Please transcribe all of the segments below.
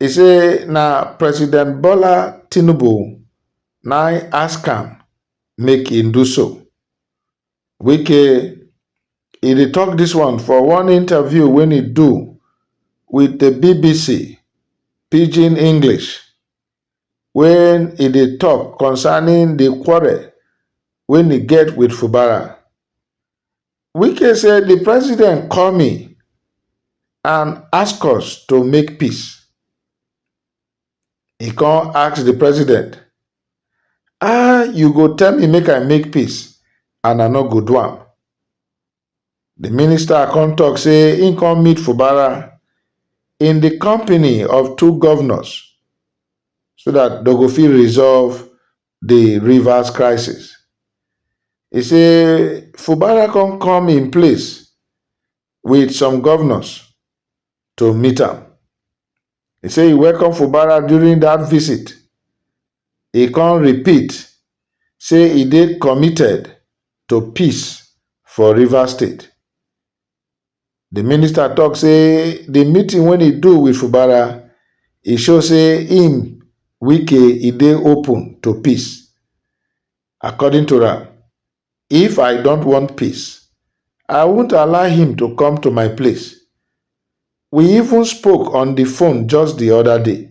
E say na President Bola Tinubu na im ask am make im do so. Wike e dey talk this one for one interview wey e do with the bbc Pidgin English when e dey talk concerning the quarrel wey e get with Fubara. Wike say di president call me and ask us to make peace. E come ask di president, Ah, you go tell me make I make peace and I no go do am. Di minister come tok say im come meet Fubara in di company of two govnors so dat dem go fit resolve di Rivers crisis. E say Fubara come come im place wit some govnors to meet am. E say e welcome Fubara during dat visit, e come repeat say e dey committed to peace for Rivers State. Di minister tok say di meeting wey e do wit Fubara, e show say im, Wike, e dey open to peace. According to am, if I don't want peace, I won't allow him to come to my place. We even spoke on di phone just di oda day.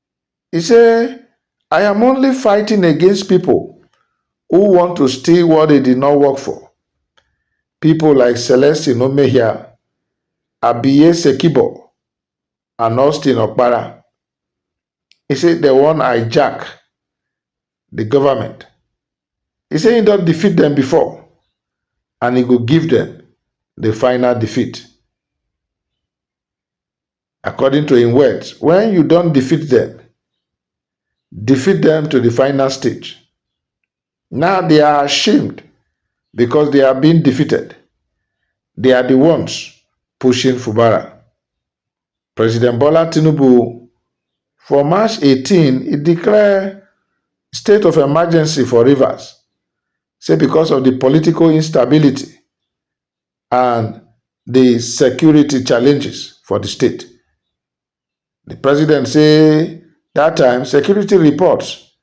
E say, I am only fighting against people who want to steal what they did not work for. People like Celestine Omehia, Abiye Sekibo, and Austin Okpara. He say they wan hijack the government. He say he don defeat them before and he go give them the final defeat. According to im words, wen you don defeat dem, defeat dem to di final stage, now dey are ashamed because dey are being defeated, dey are di ones pushing Fubara. President Bola Tinubu for March eighteen e declare state of emergency for Rivers, say because of di political instability and di security challenges for di state. Di president say dat time security reports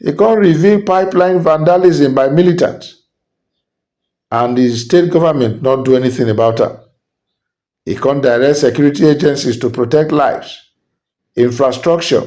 e come reveal pipeline vandalism by militants and di state government no do anything about am. E come direct security agencies to protect lives, infrastructure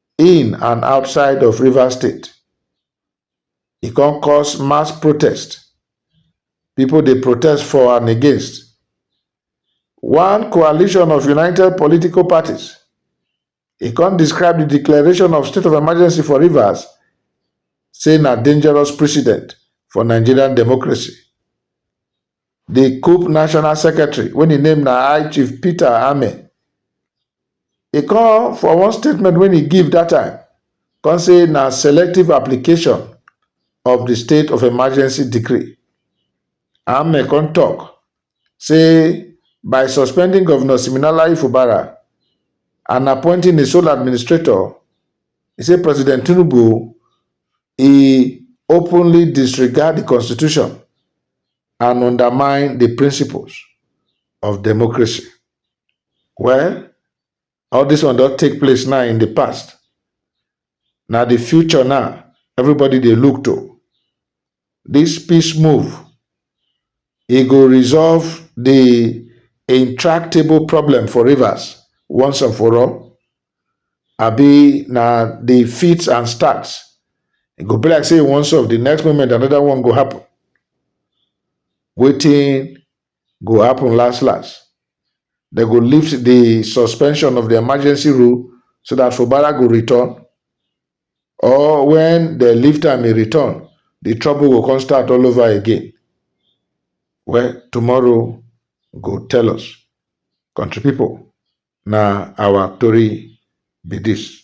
in and outside of Rivers State. E come cause mass protest. People dey protest for and against. One coalition of united political parties, e come describe the declaration of state of emergency for Rivers say na dangerous precedent for Nigerian democracy. Di coup national secretary wey im name na High Chief Peter Ame, e come for one statement wey e give dat time come say na selective application of di state of emergency decree. Ame come tok say by suspending Govnor Siminalayi Fubara and appointing a sole administrator, e say President Tinubu e openly disregard di constitution and undermine di principles of democracy. Well, all dis one don take place now in di past. Na di future now everybody dey look to. Dis peace move, e go resolve di intractable problem for Rivers once and for all? abi na the fits and starts e go be like say e wan solve the next moment another one go happen wetin go happen last last they go lift the suspension of the emergency rule so that fubara go return or when they lift am e return the trouble go come start all over again well tomorrow go tell us country people na our tori be this.